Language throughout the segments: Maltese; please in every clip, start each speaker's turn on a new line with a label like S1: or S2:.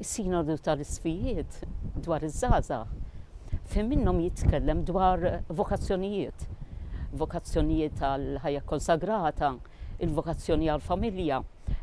S1: Is-Sinodu tal-Isqfijiet dwar iż-żgħażagħ fejn minnhom jitkellem dwar vokazzjonijiet, vokazzjonijiet għal ħajja konsagrata, il-vokazzjoni għal familja,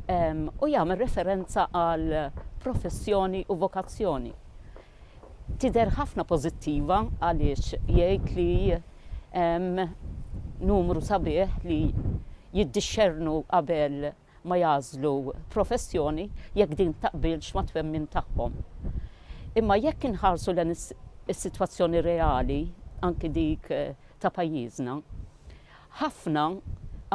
S1: ehm, u jagħmel referenza għal professjoni u vokazzjoni. Tidher ħafna pożittiva għaliex jgħid li ehm, numru sabiħ li jiddixxernu qabel ma jagħżlu professjoni jekk din taqbilx mat-twemmin tagħhom. Imma jekk inħarsu lejn is-sitwazzjoni reali, anki dik ta' pajjiżna, ħafna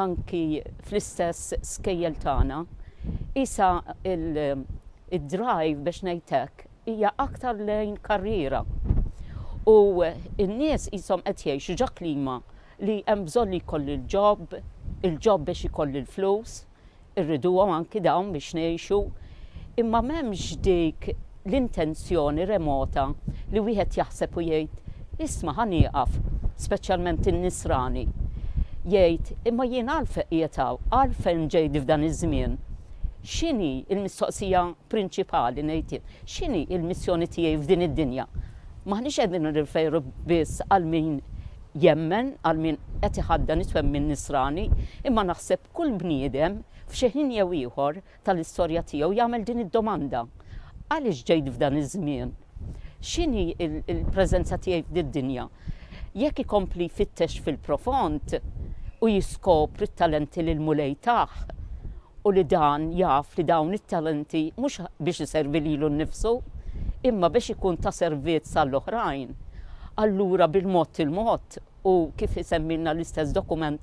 S1: anki fl-istess skejjel tagħna, qisha l-drive biex ngħid hekk hija aktar lejn karriera. U n-nies qishom qed jgħixu ġo klima li hemm bżonn li jkolli l-ġob, il-ġob biex ikolli l-flus, irriduhom anki dawn biex ngħixu, imma m'hemmx dik l-intenzjoni remota li wieħed jaħseb u jgħid, isma' ħa nieqaf, speċjalment in-nisrani, jgħid, imma jien għalfejn qiegħed hawn, għalfejn ġejt f'dan iż-żmien? X'inhi l-mistoqsija prinċipali ngħid jien, x'inhi l-missjoni tiegħi f'din id-dinja? M'aħniex qegħdin nirreferi biss għal min jemmen, għal min qed iħaddan it-twemmin Nisrani, imma naħseb kull bniedem, f'xi ħin jew ieħor tal-istorja tiegħu, jagħmel din id-domanda, Għaliex ġejt f'dan iż-żmien? X'inhi l-preżenza tiegħi f'did-dinja? Jekk ikompli jfittex fil-profond u jiskopri t-talenti li l-Mulej tah, u li dan jaf li dawn it-talenti mhux biex iservi lilu nnifsu, imma biex ikun ta' servizz għall-oħrajn, allura bil-mod il-mod u, kif isemmilna l-istess dokument,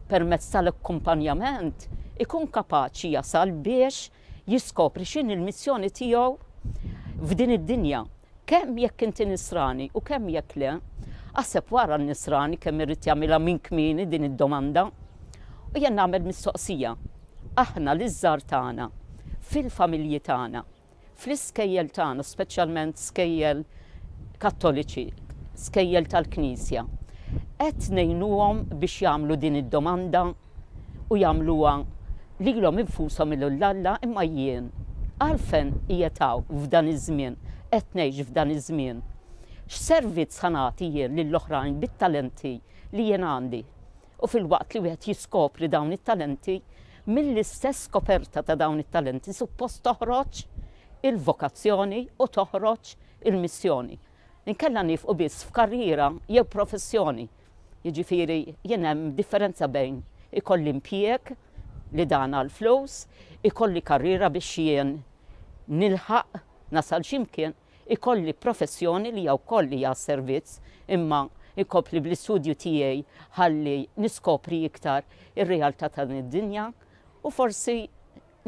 S1: permezz tal-akkumpanjament, ikun kapaċi jasal biex jiskopri x'inhi l-missjoni tiegħu f'din id-dinja. Kemm jekk inti Nisrani u kemm jekk le, aħseb wara n-Nisrani kemm irid jagħmilha minn kmieni din id-domanda. U jien nagħmel mistoqsija, aħna liż-żgħar tagħna, fil-familji tagħna, fl-iskejjel tagħna, speċjalment skejjel Kattoliċi, skejjel tal-Knisja, qed ngħinuhom biex jagħmlu din id-domanda? u jagħmluha lilhom infushom il lil Alla, imma jien għalfen qiegħed hawn f'dan iż-żmien, qed ngħix f'dan iż-żmien? X'servizz ħa nagħti jien lil oħrajn bit-talenti li jien għandi? U filwaqt li wieħed jiskopri dawn it-talenti, mill-istess skoperta ta' dawn it-talenti suppost toħroġ il-vokazzjoni u toħroġ il-missjoni. Inkella niefqu biss f'karriera jew professjoni. Jiġifieri jien hemm differenza bejn ikolli impjieg li dan għall-flus, ikolli karriera biex jien nilħaq nasal xi mkien, ikolli professjoni li hija wkoll hija għas-servizz imma inkompli bl-istudju tiegħi ħalli niskopri iktar ir-realtà ta' din id-dinja u forsi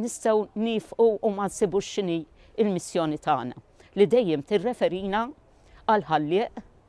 S1: nistgħu niefqu u ma nsibux x'inhi l-missjoni tagħna li dejjem tirreferina għall-Ħallieq